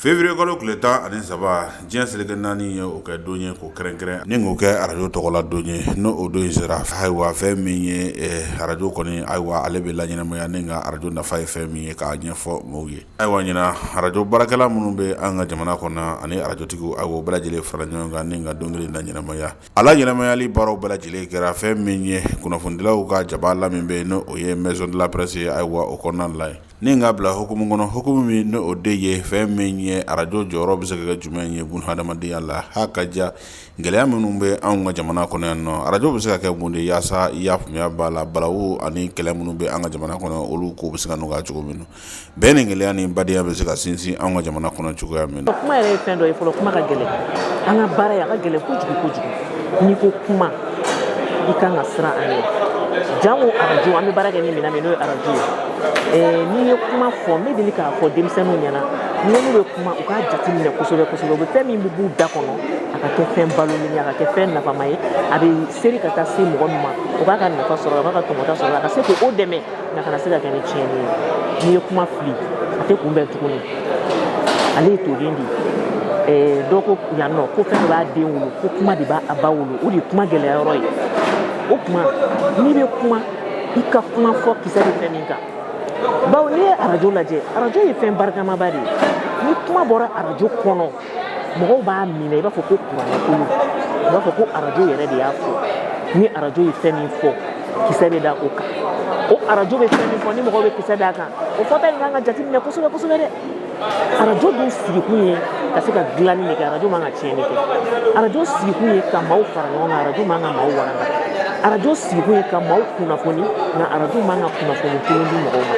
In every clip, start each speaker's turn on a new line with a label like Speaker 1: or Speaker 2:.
Speaker 1: février kalo tile tan ani saba diɲɛ seleke naani ye o kɛ don ye k'o kɛrɛnkɛrɛn ni k'o kɛ arajo tɔgɔla don ye n'o o don in sera ayiwa fɛn min ye eh, arajo kɔni ayiwa ale bɛ laɲɛnamaya ni ka arajo nafa ye fɛn min ye k'a ɲɛfɔ maaw ye ayiwa ɲina arajo baarakɛla minnu bɛ an ka jamana kɔnɔ ani arajotigiw ayiwa bɛɛ lajɛlen fara ɲɔgɔn kan ni ka don kelen laɲɛnamaya A laɲɛnamayali baaraw bɛɛ lajɛlen kɛra fɛn min ye kunnafonidilaw ka jaba la min bɛ n'o ye maison de la presse ye ayiwa o kɔnɔna la ni k'a bila hukumu kɔnɔ hukumu min n'o de ye fɛn min ye arajo jɔyɔrɔ bɛ se ka kɛ jumɛn ye bon hadamadenya la ha ka ja gɛlɛya minnu bɛ an ka jamana kɔnɔ yan nɔ arajo bɛ se ka kɛ mun de yaasa i y'a faamuya bala balawu ani kɛlɛ minnu bɛ an ka jamana kɔnɔ olu kow bɛ se ka nɔgɔya cogo min na bɛn ni kelenya ni badenya bɛ se ka sinsin an ka jamana kɔnɔ cogoya min na kuma yɛrɛ ye fɛn dɔ ye fɔlɔ
Speaker 2: kuma ka gɛlɛn an ka baara ye a ka gɛlɛn kojugu n'i ko kuma i kan ka siran a ɲɛ jango arajo an bɛ baara kɛ ni minɛn min n'o ye arajo ye eh, n'i ye kuma fɔ n bɛ deli k'a fɔ denmisɛnninw ɲɛna ni n'u bɛ kuma u k'a jate minɛ kosɛbɛ kosɛbɛ u bɛ fɛn min bɛ b'u da kɔnɔ a ka kɛ fɛn balolen ye a ka kɛ fɛn nafama ye a bɛ seri ka taa se mɔgɔ min ma o b'a ka nafa sɔrɔ a b'a ka tɔmɔta sɔrɔ a ka se k'o dɛmɛ a kana se ka kɛ ni tiɲɛni ye n'i ye kuma fili a tɛ kunbɛn tuguni ale ye toden de ye dɔ ko yan nɔ ko fɛn de b'a den wolo ko kuma de b'a ba wolo o de ye kuma gɛlɛya yɔrɔ ye o kuma n'i bɛ kuma i ka kuma fɔ kisɛ bɛ fɛn min kan bawo n'i ye arajo lajɛ arajo ye fɛn barikamaba de ye ni kuma bɔra arajo kɔnɔ mɔgɔw b'a minɛ i b'a fɔ ko kuranɛkulu i b'a fɔ ko arajo yɛrɛ de y'a fɔ ni arajo ye fɛn min fɔ kisɛ bɛ da o kan o arajo bɛ fɛn min fɔ ni mɔgɔw bɛ kisɛ da a kan o fɔta in kan ka jateminɛ kosɛbɛ kosɛbɛ dɛ arajo dun sigikun ye ka se ka dilanni de kɛ arajo man ka tiɲɛni kɛ arajo sigikun ye ka maaw fara ɲɔgɔn kan arajo man ka maaw walanga arajo sigikun ye ka maaw kunnafoni nka arajo man ka kunnafoni kolon di mɔgɔw ma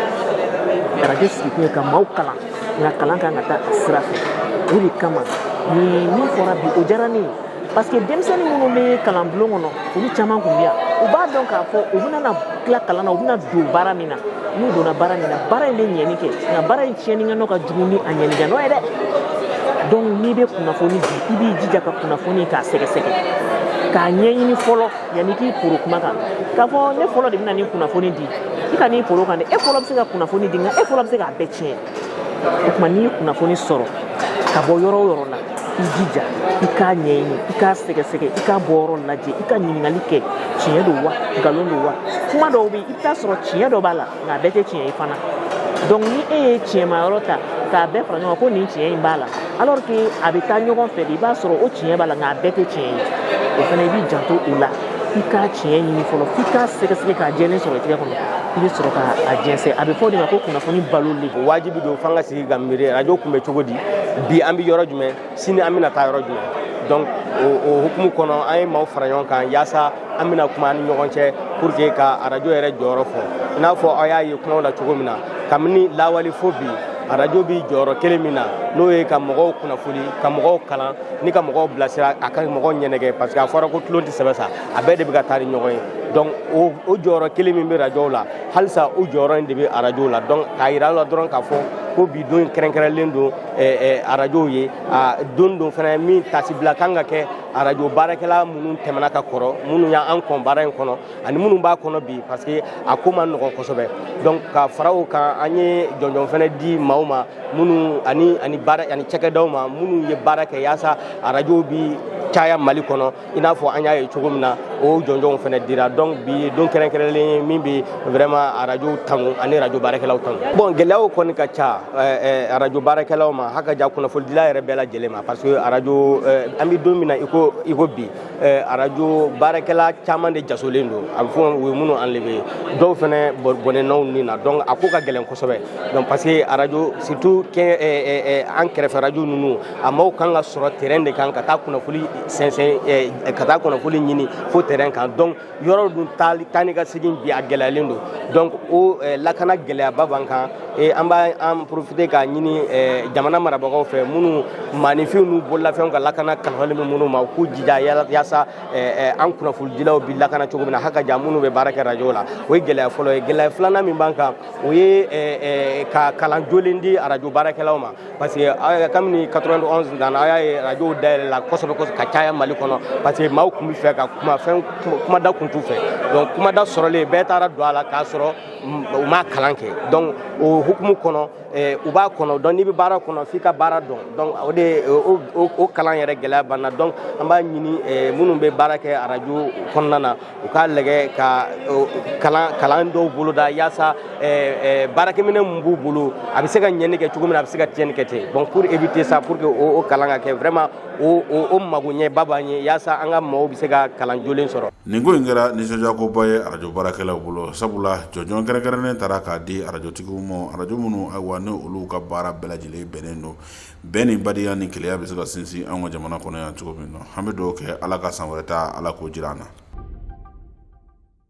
Speaker 2: arajo sigikun ye ka maaw kalan nka kalan kan ka taa a sira fɛ o de kama nin min fɔra bi o diyara ne ye parce que denmisɛnnin minnu bɛ kalan bulon kɔnɔ olu caman tun bɛ yan u b'a dɔn k'a fɔ u bɛna tila kalan na u bɛna don baara min na n'u donna baara min na baara in bɛ ɲɛni kɛ nka baara in tiɲɛni kɛ nɔ ka jugu ni a ɲɛni kɛ nɔ ye dɛ donc n'i bɛ kunnafoni di i b'i jija ka kunnafoni k'a sɛgɛsɛgɛ k'a ɲɛɲini fɔlɔ yanni k'i poron kuma kan k'a fɔ ne fɔlɔ de bɛna nin kunnafoni di i kan'i poron kan dɛ e fɔlɔ bɛ se ka kunnafoni di nka e fɔlɔ bɛ se k'a bɛɛ tiɲɛ o tuma n'i ye kunnafoni sɔrɔ ka bɔ yɔrɔ o yɔrɔ la i jija i k'a ɲɛɲini i k'a sɛgɛsɛgɛ i k'a bɔyɔrɔ lajɛ i ka ɲininkali kɛ tiɲɛ don wa nkalon don wa kuma dɔw bɛ i bɛ taa sɔrɔ tiɲɛ dɔ b'a la nka a bɛɛ tɛ tiɲɛ ye fana donc ni e ye tiɲɛma yɔrɔ ta k'a bɛɛ fara ɲɔgɔn kan ko nin tiɲɛ in b'a la alors que a bɛ taa ɲɔgɔn fɛ de i b'a sɔrɔ o tiɲɛ b'a la nka a bɛɛ tɛ tiɲɛ ye o fana i b'i janto o la i k'a tiɲɛ ɲini fɔlɔ f'i k'a sɛgɛsɛgɛ k'a jɛlen sɔrɔ i tɛgɛ kɔnɔ i bɛ sɔrɔ k'a jɛnsɛn a bɛ fɔ o de ma ko kunnafoni baloli o wajibi don f'an
Speaker 3: ka sigi ka miiri arajo kun bɛ cogo di bi an bɛ yɔrɔ jumɛn sini an bɛna taa yɔrɔ jumɛn donc o hukumu kɔnɔ an ye maaw fara ɲɔgɔn kan yaasa an bɛna kuma an ni ɲɔgɔn cɛ pour que ka arajo yɛrɛ jɔyɔrɔ fɔ i n'a fɔ aw y'a ye kumaw la cogo min na kabini lawali fo bi arajo bi jɔyɔrɔ kelen min na n'o ye ka mɔgɔw kunnafoni ka mɔgɔw kalan ni ka mɔgɔw bilasira a ka mɔgɔw ɲɛnɛgɛ parce que a fɔra ko tulon tɛ sɛbɛ sa a bɛɛ de bɛ ka taa ni ɲɔgɔn ye donc o o jɔyɔrɔ kelen min bɛ rajow la halisa o jɔyɔrɔ in de bɛ arajow la donc k'a yira la dɔrɔn k'a fɔ ko bi don kɛrɛnkɛrɛnlen don arajow ye don don fana min taasibila kan ka kɛ arajo baarakɛla minnu tɛmɛna ka kɔrɔ minnu y'an kɔn baara in kɔnɔ ani minnu b'a kɔnɔ bi parce que a ko man nɔgɔn kosɛbɛ donc ka fara o kan an ye jɔnjɔn fana di maaw ma minnu ani ani baara ani cɛkɛdaw ma minnu ye baara kɛ yaasa arajo bi caya mali kɔnɔ i n'a fɔ an y'a ye cogo min na o jɔnjɔnw fana dira donc bi ye don kɛrɛnkɛrɛnlen ye min bɛ vraiment arajow tanu ani arajo baarakɛlaw tanu bon gɛlɛyaw kɔni ka ca arajo baarakɛlaw ma hakaja kunnafonidila yɛrɛ bɛɛ lajɛlen ma parce que arajo eh, an bɛ don min na iko iko bi eh, arajo baarakɛla caman de jasolen don a bɛ fɔ u ye minnu enlever dɔw fana bɔnɛna u ni na donc a ko ka gɛlɛn kosɛbɛ donc parce que arajo surtout kɛ eh, an kɛrɛfɛ arajo ninnu a maaw kan ka sɔrɔ terrain de kan ka taa kunnafoni sɛnsɛn ka taa kunnafoni ɲini fo terrain kan donc yɔrɔ dun taali taa ni ka segin bi a gɛlɛyalen don donc o eh, lakana gɛlɛyaba b'an kan eh, an b'an profiter k'a ɲini eh, jamana marabagaw fɛ minnu maaninfinw n'u bololafɛnw ka lakana kalifalen bɛ minnu ma u k'u jija yala- yaasa eh, eh, an kunnafonidilaw bi lakana cogo min na haka ja minnu bɛ baara kɛ rajo la o ye gɛlɛya fɔlɔ ye gɛlɛya filanan min b'an kan o ye eh, eh, ka kalan jolen di arajo baarakɛlaw ma parce que euh, kabini 91 nana a y'a ye radio dayɛlɛla kosɛbɛ kosɛbɛ ka caya mali kɔnɔ parce que maaw tun bɛ fɛ ka kuma fɛn kumada kun t'u fɛ donc kumada sɔrɔlen bɛɛ taara don a la k'a sɔrɔ u m'a kalan kɛ donc o hukumu kɔnɔ eh, u b'a kɔnɔ donc n'i bɛ baara kɔnɔ f'i ka baara dɔn donc o de o kalan yɛrɛ gɛlɛya b'an na donc an b'a ɲini eh, minnu bɛ baara kɛ radio kɔnɔna na u k'a lajɛ ka o, kalan kalan dɔw boloda yaasa eh, eh, baarakɛminɛ min b'u bolo a bɛ se ka ɲɛni kɛ cogo min na a bɛ se ka tiɲɛni kɛ ten bon pour éviter ça pour que o, o kalan ka kɛ vraiment o, o, o magoɲɛba b'an ye yaasa an ka mɔgɔw bɛ se ka kalan jolen sɔrɔ nin ko in
Speaker 1: kɛra nisɔndiyakoba ye arajo baarakɛlaw bolo sabula jɔnjɔn kɛrɛnkɛrɛnnen tara k'a di arajotigiw ma arajo minnu ayiwa ni olu ka baara bɛɛ lajɛlen bɛnnen don bɛn ni badenya ni kelenya bɛ se ka sinsin an ka jamana kɔnɔ yan cogo min na an bɛ dugawu kɛ ala ka san wɛrɛ ta ala k'o jira an na